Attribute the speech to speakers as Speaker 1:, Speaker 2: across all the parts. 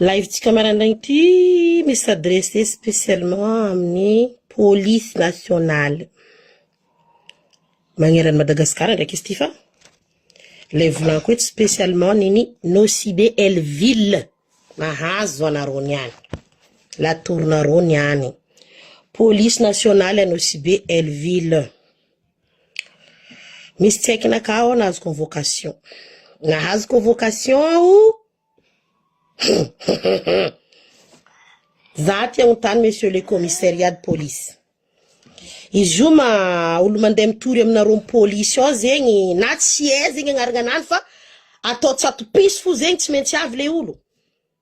Speaker 1: Live-tsika maraindraigny ity misy s'adresser spécialement amin'ny police nationale magneran'i Madagasikara ndraiky izy ity fa ilay volagny koa eto spécialement ny ny Nosy be el ville mahazo anareo ny any, la tour-nareo ny any, police nationale Nosy be el ville. Misy tsy haiko naka aho nahazo convocation. Nahazo convocation aho za aty aontany monsieur le commissariat de police izy io ma olo mandeha mitory aminareo polisy ao zegny na tsy hay zegny agnarana anany fa atao tsatopiso fo zegny tsy maintsy avy le olo.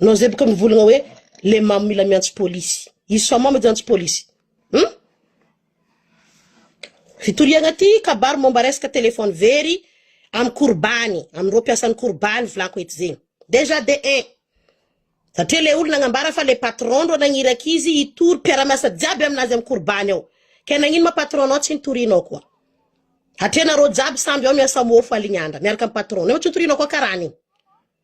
Speaker 1: Non zay boka mivolagna hoe le mamo mila miantso polisy. Izy sao mamo edy antso polisy. Hum? Fitoriagna ty kabary momba resaka téléphone very am korobany, amireo mpiasan'ny korobany volako eto zegny. Dejà de un satria le olo nagnambara fa le patron ndro nagniraka izy hitory mpiara-miasa jiaby aminazy am korobany ao. Ke nagnino ma patron nao tsy nitorianao koa? Hatria nareo jiaby samby ao miasa mofo align andra miaraka am patron nao tsy nitorianao koa karany igny.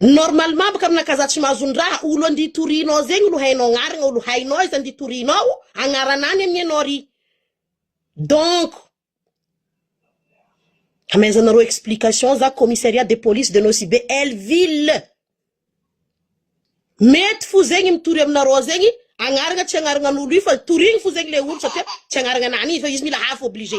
Speaker 1: Normalement bôka aminà kaza tsy mahazo ny raha, olo andia torianao zegny lo hainao agnaragna, olo hainao izy andia torianao agnaranany anie anao ry donc Amezanareo explication za commissariat de police de Nosy-Be elle ville mety fo zegny mitory aminareo zegny agnaragna tsy agnaragnan'olo io fa torigny fo zegny le olo satria tsy agnaragnanany izy fa izy mila hafo obligé.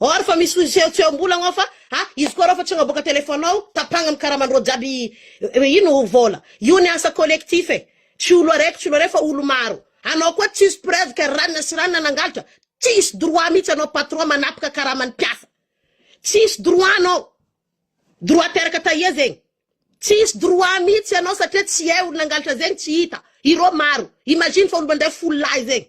Speaker 1: Or fa misy sehotsehom-bola ao fa a izy koa reo fa tsy hagnaboaka téléphone ao tapagna ny karaman-dreo jiaby ino vola io ny asa collectif e tsy olo araiky tsy olo aray fa olo maro anao koa tsisy preuve ka ranona sy ranona nangalatra tsisy droit mitsy anao patron manapaka karaman'ny mpiasa tsisy droit anao droit teraka taia zegny tsisy droit mitsy anao satria tsy hay olo nangalatra zegny tsy hita ireo maro imagine fa olo mandray folo lahy zegny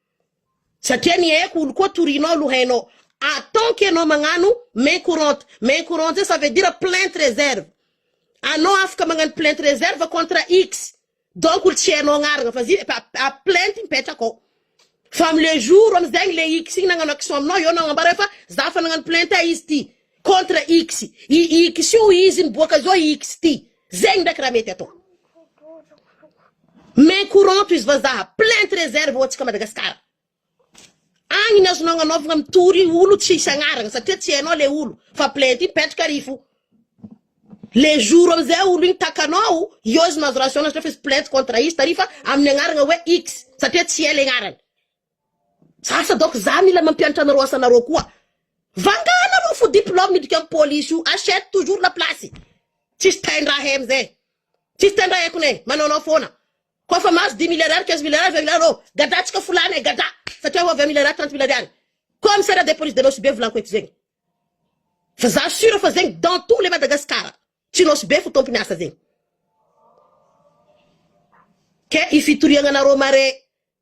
Speaker 1: Satria ny haiko olo koa torianao aloha hainao atant que enao magnano main courante, main courante zay ça veut dire plainte reserve anao afaka magnano plainte reserve contre X donc olo tsy hainao agnarana fa zay plainte mipetraka ao fa am le jour amzegny le X igny nagnano action aminao eo anao agnambara hoe fa za fa nagnano plainte izy ty contre X i X io izy miboaka zao i X ty zegny ndraiky raha mety atao main courant tohizo vazaha plainte reserve ho antsika Madagascar agny ny azonao agnanaovagna mitory olo tsisy agnaragna satria tsy hainao le olo fa plainte igny petraka ary fo le jour amizay olo igny takanao eo izy mahazo raha asao satria fa izy plainte contre izy tary fa amin'ny agnaragna hoe X satria tsy hay le agnarany Asa donc za mila mampianatra anareo asanareo koa vangah nareo fo diplome miditra am police io achète toujours la place tsisy taindraha he amzay tsisy taindraha he kone manaonao foana ko fa mahazo dix mille ariary quinze mille ariary vingt mille ariary reo gadra tsika fo lany he gadra satria ho vingt mille ariary trente mille ariary commissariat de police de nosy be volako eto zegny fa za sur fa zegny dans tout le madagascar tsy nosy be fo tompony asa zegny ke ifitoriagnanareo mare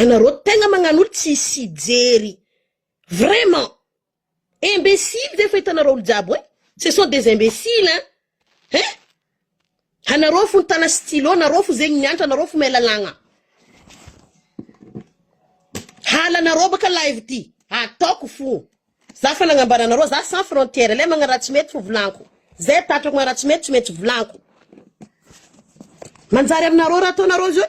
Speaker 1: Anareo tegna magnanolo tsy sijery vraiment imbecile zay efa hitanareo olo jiaby hoe ce sont des imbecile hein hein anareo fo nitana stylo nareo fo zegny niantra anareo fo mahay lalagna halanareo baka live ty ataoko fo za fa nagnambara anareo za sans frontière le magna raha tsy mety fo volanko zay tatrako magna raha tsy mety tsy maintsy volanko manjary aminareo raha ataonareo zao.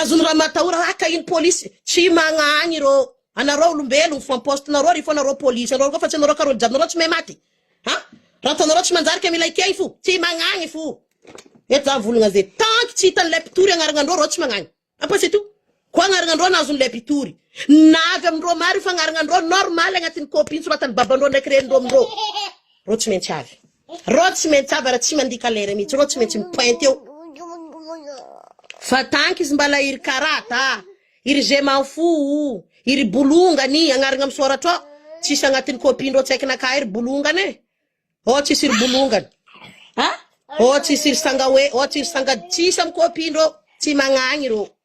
Speaker 1: Azony ramatahora haka iny polisy tsy magnahagny ireo anareo olombelogno fa poste nareo ry fô nareo polisy anareo koa fa tsy anareo ka rôly jiaby nareo tsy mahay maty ha raha ataonareo tsy manjary ka mila ekey fo tsy magnagny fo eto za mivolagna ze tanky tsy hitan'ilay mpitory agnaragnandreo reo tsy magnagny apa c'est tout koa agnaragnandreo no azon'ilay mpitory na avy amindreo maro io fa agnaragnandreo normal agnatin'ny copie nosoratan'ny babandreo ndraiky renindreo amindreo reo tsy maintsy avy Reo tsy maintsy avara tsy mandika lera mitsy reo tsy maintsy mipointe eo fa tanky izy mbala iry karata a iry je m'en fous o iry bolongany agnarigna am soratra ao tsisy agnatin'ny copie ndreo tsy haiko na kahy ry bolongany e oh tsisy ry bolongany a oh tsisy ry sanga hoe oh tsisy sanga tsisy am copie ndreo tsy magnagny reo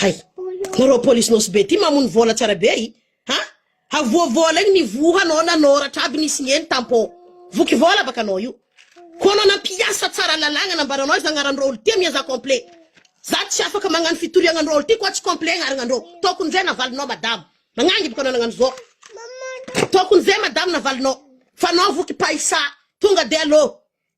Speaker 1: Hay. Nareo police nosy be ty mamono vola tsy ara be i ha havoa vola igny ny voa anao nanoratra aby nisy ny eny tampo voky vola baka anao io ko anao nampiasa tsara lalagna nambaranao iza agnaran drôly ty amia za complet za tsy afaka magnano fitoriagna ndrôly ty koa tsy complet agnaragna ndrô tokony zay navalinao madama nagnangy baka anao nagnano zô tokony zay madama navalinao fa anao voky paisa tonga de alô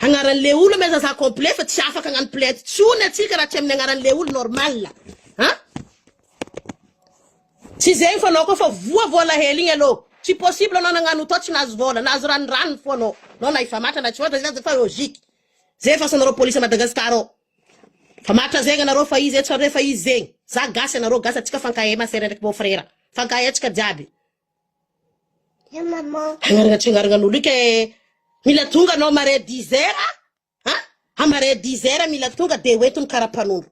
Speaker 1: Agnaranle olo mais aza complet fa tsy afaka agnano plainte tsony atsika raha tsy aminy agnaranle olo normal an! Tsy zegny fa anao koa fa voa voa alahelo igny alou tsy possible anao nagnano tao tsy nahazo vola nahazo ranoranony fô anao anao na efa matra na tsy matra zay aza efa logique zay efa asanareo police Madagascar ao fa matra zegny anareo fa izy etsy fa anareo efa izy zegny za gasy anareo gasy atsika fankahay ma sœur ndraiky beau frère fankahay atsika jiaby. Agnaragna tsy agnaragna an'olo ika eh, mila tonga anao mare dix heures a, an a mare dix heures mila tonga de ho eto ny karapanondro,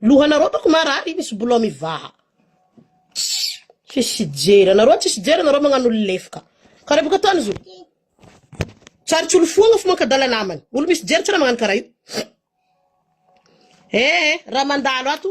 Speaker 1: lohanareo bako marary io misy boulot mivaha, tsisy jery anareo tsisy jery anareo magnano olo lefoka, karaha baka ataony izy io, tsarotsy olo foagna fo mankadala namany, olo misy jery tsy raha magnano karaha io, eh eh raha mandalo ato.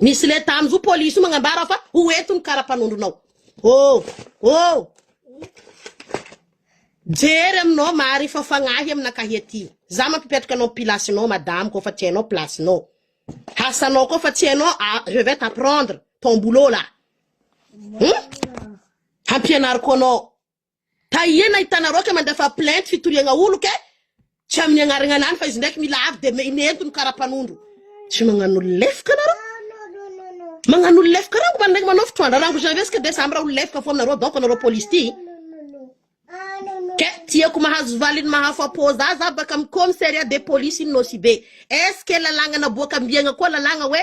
Speaker 1: Misy leta amin zo police io magnambara fa ho ento ny karapanondronao. Oh! Oh! Jery aminao Mari fa fagnahy aminakahy aty. Za mampipetraka anao pilace nao madame kô fa tsy hainao place nao. Asanao kô fa tsy hainao je vais t'apprendre ton boulot là. Hum? Hampianariko anao. Tahie nahitanareo aky mandefa plainte fitoriagna olo ke tsy aminy agnaragna anany fa izy ndraiky mila avy de inentiny kara mpanondro tsy magnano olo lefoka nareo magnano olo lefoka rango mba ndraiky manao fitroandra rango jean resaka de samy ra olo lefoka fona nareo donc nareo police ty ke tiako mahazo valiny mahafapo za za baka am commissariat de police nosy be est ce que lalagna naboaka ambiagna koa lalagna hoe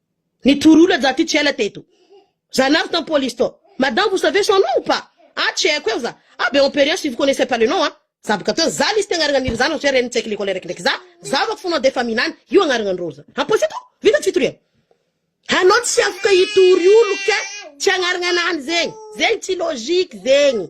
Speaker 1: Nitory olona za ty tsy ela teto za nazo tam police tao madame vous savez son nom ou pas ah tsy haiko eo za ah be emperiant si vous connaissez pas le nom ah za boka teo za lisy ty agnaragna niry zanako zay renin'ny tsaiky lekole raiky ndraiky za zava ko fonao de efa minany io agnaragna ndroro za am police tao vita tsy fitoriana hanao tsy afaka hitory olo ka tsy agnaragna anany zegny zegny tsy logique zegny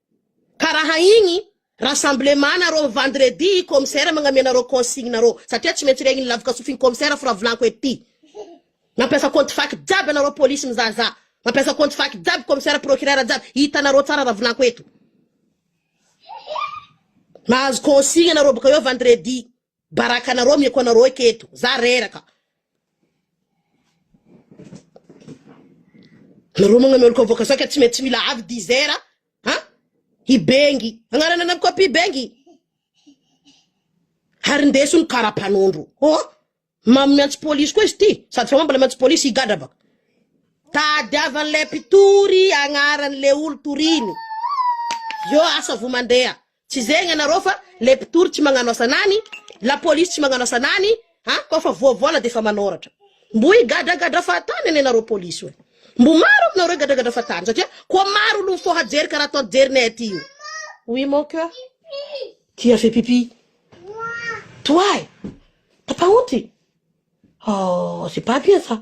Speaker 1: Ka raha igny rassemblement nareo vendredi i commissaire magname nareo consigne nareo satria tsy maintsy regny lavaka sofiny commissaire f'raha volanko ety mampiasa compte fac jiaby anareo police mizahazaha mampiasa compte fac jiaby commissaire procureur jiaby hitanareo tsara raha volanko eto mahazo consigne nareo boka eo vendredi. Baraka anareo ameko anareo eky eto za reraka. Nareo magna meloka avoaka saika tsy mety tsy mila avy dizer a han i bengy agnarana anam copie bengy ary ndeso ny kara mpanondro oh mamy miantso polisy koa izy ty sady fa mamy mbola miantso polisy higadra baka tadiavan'ilay mpitory agnaran'le olo toriny eo asa vo mandeha Tsy zay gnanareo fa le mpitory tsy magnano asa nany, la police tsy magnano asa nany a, ko fa voa vola defa manoratra. Mbo higadragadra fahatany anie nareo police oe. Mbo maro aminareo higadragadra fahatany satria ko maro olo mifoha jery karaha ataon'i jerinay aty io. Oui mon coeur tu as fait pipi toi eh t'as pas honte oh c'est pas bien ça.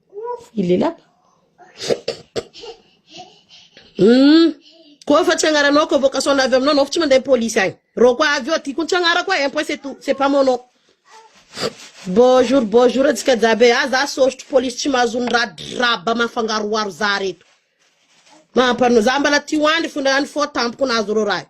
Speaker 1: I lelapa. Hum. Koa fa tsy agnaranao convocation avy aminao anao fa tsy mandeha police agny. Rô koa avy eo ty koa tsy agnarako e, un point c'est tout, c'est pas mon nom. Bonjour bonjour antsika jiaby e, ah za sôrtry police tsy mahazo ny raha draba mafangaroharo za reto. Mampano za mbala ty hoandry fona any fô tampoko nahazo rô raha io.